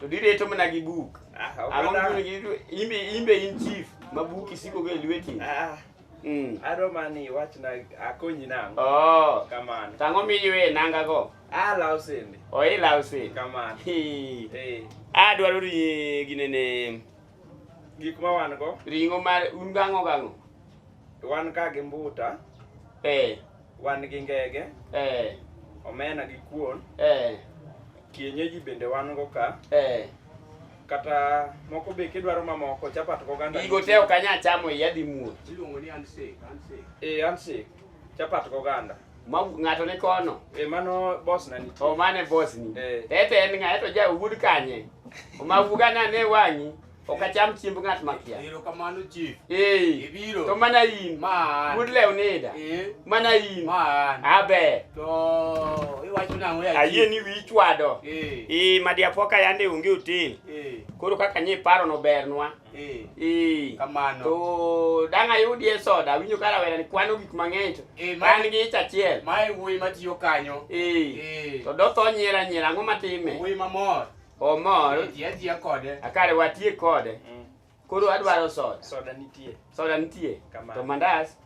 to direto mana gi buk Ah, ok ang'o adar. mibiro gi- imbe imbe in chief ma buk isiko go e lweti Ah, Mm. adwa mana ni iwachna akonyi nang'o oh kamano tang'o miywe nanga go ah law sende oilaw sin kamano Hi. eh adwaro ri ginene Gik ma wan go. Ring'o mar un gang'o gang'o. Wan ka gi mbuta. Eh. Wan gi ngege. Eh. Omena gi kuon. Eh. Kienyeji bende wan go ka. Eh. Kata moko be kidwaro mamoko chapat goganda. Gigo te ok anya chamo iya dhi muoch. Iluongo ni handshake, handshake. Eh, handshake. Chapat goganda. Ma ng'ato ni kono. Eh, mano boss na nitie. O mane boss ni. Eh. Ete en ng'a eto ja wuod kanye. Oma wuga na ne wang'i. Ok acham chiemb ng'at makia. Ero kamano chief. Eh. Ibiro. To mana in. Man. Wuod lew nida. Eh. Mana in. Man. Abe. To iwacho nang'o ya. Ayie ni wi chwado. Eh. Eh madiapoka yande onge hotel. Eh. Koro kaka nyi paro no bernwa. Eh. Eh. Kamano. To dang' ayudie soda, awinjo ka rawera ni kwano gik mang'eny to Eh, ma- an gi ich achiel. Mae wuoyi matiyo kanyo. Eh. Eh. To dotho nyiera nyiera, ang'o matime? Wuoyi mamor. Omor, Atiya atiya kode. akare watie kode. Mm. Koro adwaro soda. Soda nitie. Soda nitie. Kamano. To mandas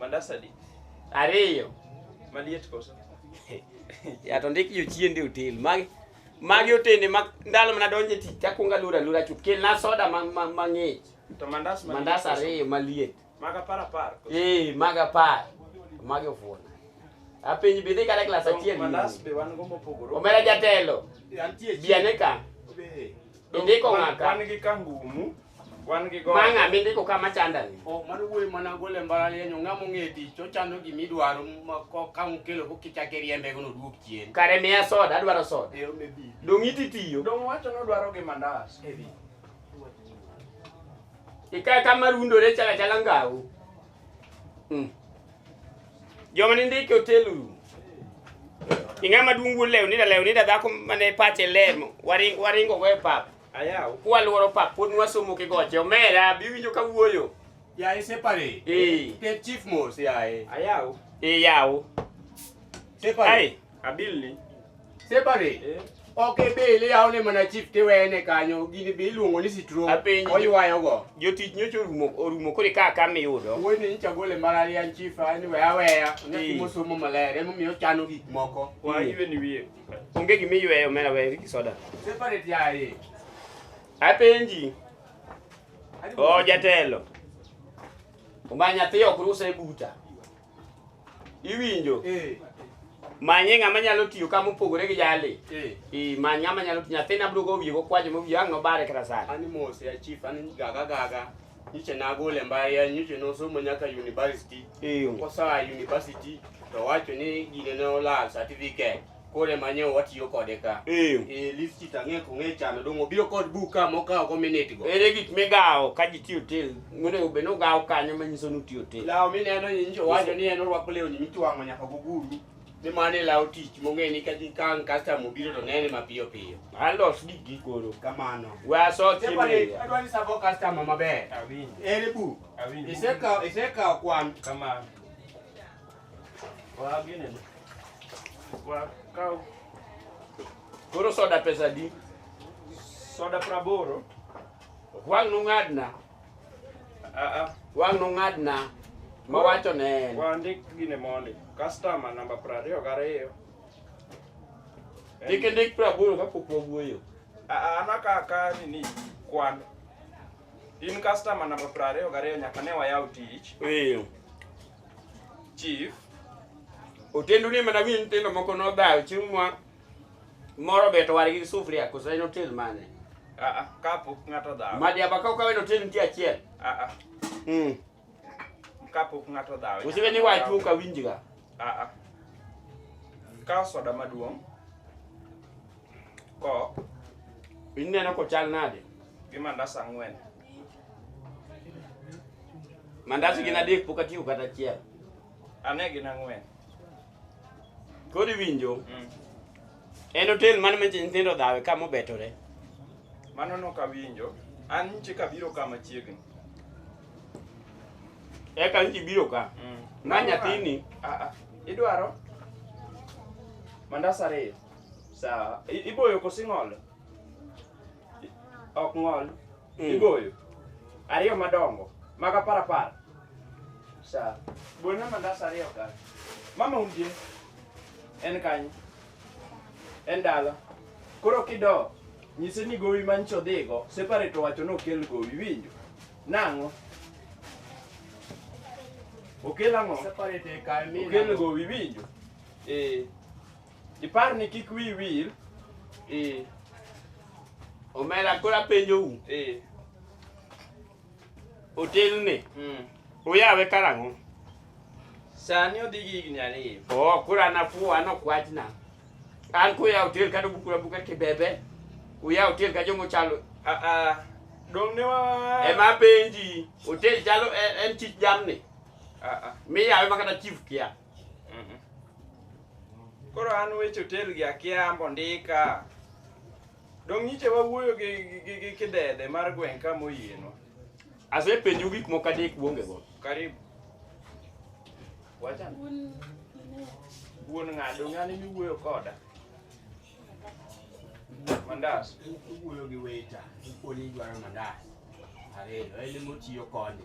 Mandas adi? Ariyo. Maliet koso? Ya to ndik jochiende otel. Magi magi otende ma ndalo mana donje tich takwongo alura alura chuth. Kelna soda ma ma- mang'ich. To mandas maliet Mandas koso? ariyo maliet. Maga par apar. koso? Eh, maga par. Magi ofuona. Apenji bidhi kata klas To achiel. Mandas be wan go mopogore. Omera jatelo. Antie Biane ka. Be. Indiko Wan- ng'aka. Wan gi kangumu. Wan gi gode. Mang'a mindiko ka machandani. Oh, mano wuoyi mana gole e mbalariany ong'a mong'e tich ochano gima idwaro ma- ko- ka ukelo ko kichake riembe gono duok chien Kare miya soda, adwaro soda. Ero me bi. Dong' iti tiyo. Dong' wacho nodwaro gi mandas. Ika kama rundore chala chala ngau. Mm. Joma ni ndike otel uru. Ing'ama duong' wuod lewni da lewni da dhako mane pache lemo. Waringo waringo go e pap. Ayaw. Kwaluoro pap pod nwasomo kigoche omera biwinjo ka wuoyo. Yaye separate. Eh. Ket chief mos yaye. Ayaw. Eh yawo. Separate. Ai, abil ni. Separate. Eh. Ok ibil iyaw ne mana chief tiwene kanyo gini bi iluongo ni sitro. Apenji. Oywayo go. Jotich nyocha orumo orumo kore ka ka miyudo. Wuoyi ni nyicha gole mbalariany chief ani weya weya. Eh. Nyathi mosomo maler emomiyo ochano gik moko. Wa iwe ni wiye. Onge gima iyweyo omera we Ricky Soda. Separate yaye. Apenji. O jatelo. Omba nyathi ok rusa e buta. Iwinjo? Eh. Manye ng'ama nyalo tiyo ka mopogore gi jali. Eh. I many ng'ama nyalo tiyo. Nyathina biro go wiye go kwaje mo wiye ang' nobare kata sani. Ani mos ya chief ani gaga gaga. nyiche nagole mbalariany nyiche nosomo nyaka university Eyo. kosaa university to wacho ni gine ne olal certificate kore manye watiyo kode ka Eyo. e listi tang'e kong'e chano dong' obiro kod buk ka mokawo go minute go Ere gik migawo ka ji tiyo tel? Monego bed ni ugawo kanyo manyiso ni utiyo tel. lawo mineno ni nyicho wacho ni en orwako lewni mitwang'o nyaka guguru ni mano e law tich mong'e ni ka gikang' customer obiro to nene mapiyo piyo alos gik gi koro kamano we aso chiemo adwa ni sabo customer maber ere bu isekawo isekawo kwan kamano wa gine wa kaw koro soda pesa di soda praboro wang' nung'adna Aa, Wang' nong'adna ma wacho ne en. wandik gine mondi. Customer namba prariyo gariyo. Kik indik praboro kapok wawuoyo. Aa, ana ka ka nini kwan. In customer namba prariyo gariyo nyaka ne wayaw tich. Ee. Chief, Otendu ni mana wi nyithindo moko nodhayo chieng' mwa Moro beto wargi gi sufria koso en otel mane? Ah, ah, kapok ng'ato dhaw. Madiaba ka okawe no tin nitie achiel. Ah, ah. Mm. Kapok ng'ato dhaw. Usiwe ni wachu ka winjiga. Ah, ah. Kaw soda maduong'. Ko. Ineno ko chal nade? Gi mandas ang'wen. Mandas gin adek pok atiyo kata achiel. Ane gin ang'wen. Koro iwinjo? Mm. En hotel mane ma nyithindo dhawe ka mobetore? Mano nok awinjo. An nchi kabiro ka machiegni. Eka nchi biro ka? Mm. Ma nyathini? Ah, ah. Idwaro? Mandas ariyo. Sawa. Iboyo kosing'olo? ok ng'ol Mm. igoyo ariyo madongo mag apar apar sa gona mandas ariyo ka mama unje en kanye en dala koro kido nyise ni gowi mancho dhigo separate owacho ni okel gowi winjo nang'o okel ang'o Separate e kae mi okel nang'o? gowi winjo eh Ipar ni kik wiyi wil. Eh. Omera koro apenjou. Eh. Otelni. Mm. Uyawe karang'o? Sani odhi gi higni ariyo. Oh, koro an afuwo an ok wachna. An kuyawo otel kata obukura buka kibebe. Uyawo otel ka jomo chalo. Ah ah. Dong ne wa Ema penji, otel chalo en, en chich jamni. Ah ah. Miyawe ma kata chief kia. Mhm. Koro an weche otel gi akia ambo ndika. Dong' nyiche wawuoyo gi gi- gi gi kidede mar gweng' ka moyienwa. Asepenju gik moko adek uonge go. Karibu. Wacha. Wuon ng'ado ng'ani miwuoyo koda. Mandas. Iwuoyo gi weta, ikoni idwaro mandas. Ariyo, en ema otiyo koni.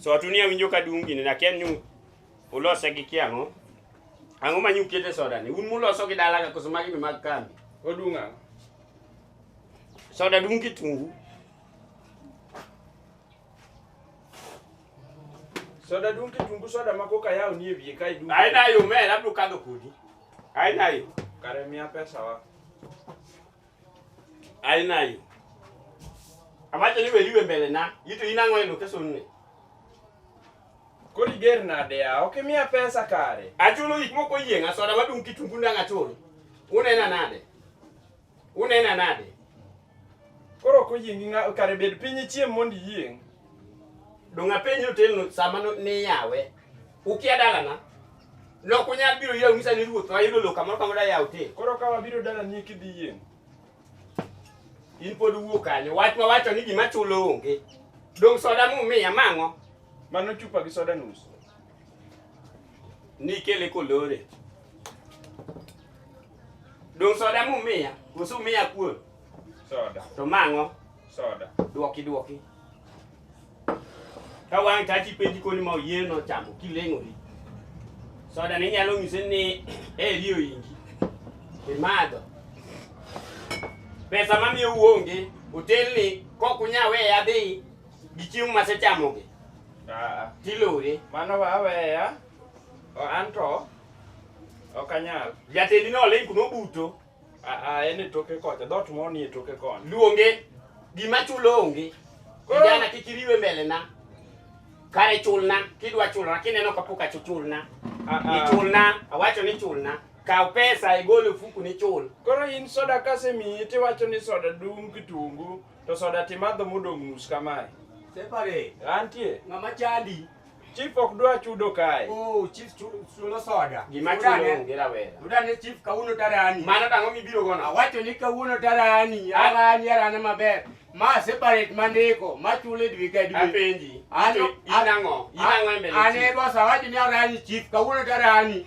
So atuni awinjo ka dung gini nakia ni ulose gi kiang'o. Ang'o ma nyukete soda ni? Un muloso gi dala ka koso magi mag kambi. Odunga. Soda dung kitungu. Soda dung kitungu soda ma koka yao ni e wiye kai dung. Ai nayo me labdu kadho kudi. Ai nayo. Kare mia pesa wa. Alinayo. Awacho ni weliwe mbele na, yitu inang'o e location ni. Kori ger nade ya, ok imiya pesa kare. Achulo gik moko yieng' asoda madung' kitungu ndang' achulo. Unena nade? Unena nade? Koro ok oyiengi ng'a kare bed piny ichiem mondo iyieng'. Donga penjo otelno sama niyawe. Ukia dalana. Lok unyal biro yie ung'isa ni ruoth wayudo lok kamoro kamoro da yaw te. Koro ka wabiro dalani kidhi yieng'. In pod wuo kanyo. Wach ma wacho ni gima chulo onge. Dong soda mumiya mang'o? Mano chupa gi soda nus. Nikele kolore. Dong soda mumiya. Koso umiya kuon. Soda. To mang'o? Soda. Duoki duoki. ka wang' tachi penji koni ma oyie no chamo kileng'ori soda ni nyalo ng'ise ni eri oyingi imadho pesa mamiyo uonge otelni kok unya weye adhi gi chiemo masechamogi Ah, tilore mano wa aweya o anto ok anyal jatendi noling kuno buto Aa, en e toke kocha, dhoot moro ni e toke koni. Luonge. Gima chulo onge. Kijana kik iriwe mbele na. Kare chulna, kidwa chulna, kineno kapok achuchulna. Ichulna, awacho ni chulna. Kaw pesa igol e fuku ni chul. Koro in soda kasemiyi tiwacho ni soda dung' kitungu to soda timadho modong' nus kamae. Separate. Antie. Ng'ama chandi. Chief ok dwa chudo kae. Oh, chief chulo soda. Gima chulo onge rawera. Udane chief kawuono tarani. Mano tang'o mibiro gono. Awacho ni kawuono tarani, arani arana maber. Ma separate mandiko, ma chule dwe ka dwe. Apenji. Ano inang'o? Inang'o e mbele. Ane bosa wacho ni arani chief kawuono tarani.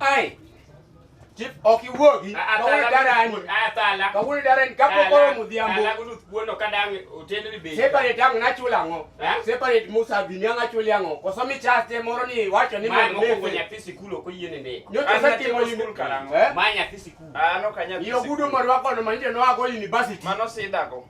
Ai. Chief ok iwuogi. Kawuono dara ni. Atala. Kawuono dara ni kapo koro mudhiambo. Atala kudu kuono kadang otende ni be. Separate ang nachula ango. Separate Musa Vini ang achuli ango. Koso mi chaste moro ni wacho ni mo lefe. Ma moko nyathi sikul ok oyie nende. Nyoto sa timo sikul karango. Ma nyathi sikul. Ah no kanya. Yo gudu morwako no manje no ago university. Mano sidago.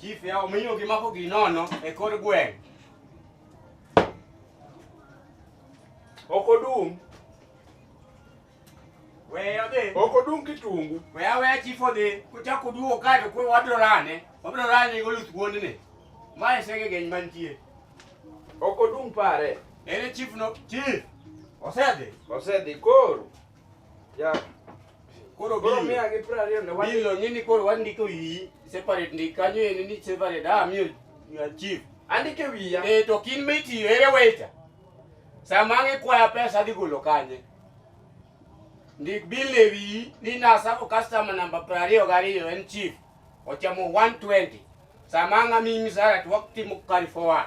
Chief ya omiyo gimako ginono e kor gweng'. Ok odum. We odhi. Ok odum kitungu. We awe chief odhi. Kuchak uduogo kae to wabiro rane. Wabiro rane gi oluth wuondni. Mae sege geny mantie. Ok odum pare. Ere chief no? Chief. Osedhi. Osedhi koro. Yeah. Koro koro mia gi piero ariyo ne wadi. Bilo nini koro wandiko iyi separate ndi kanyo en ni separate ah miyo chief. Andike wiya. Eh to kin miti ere wecha. Sama ngi kwa pesa dhi golo kanye. Ndik bil ne wiyi ni na sako customer number piero ariyo gi ariyo en chief. Ochamo 120. Sama ngami misara to waktimo carry forward.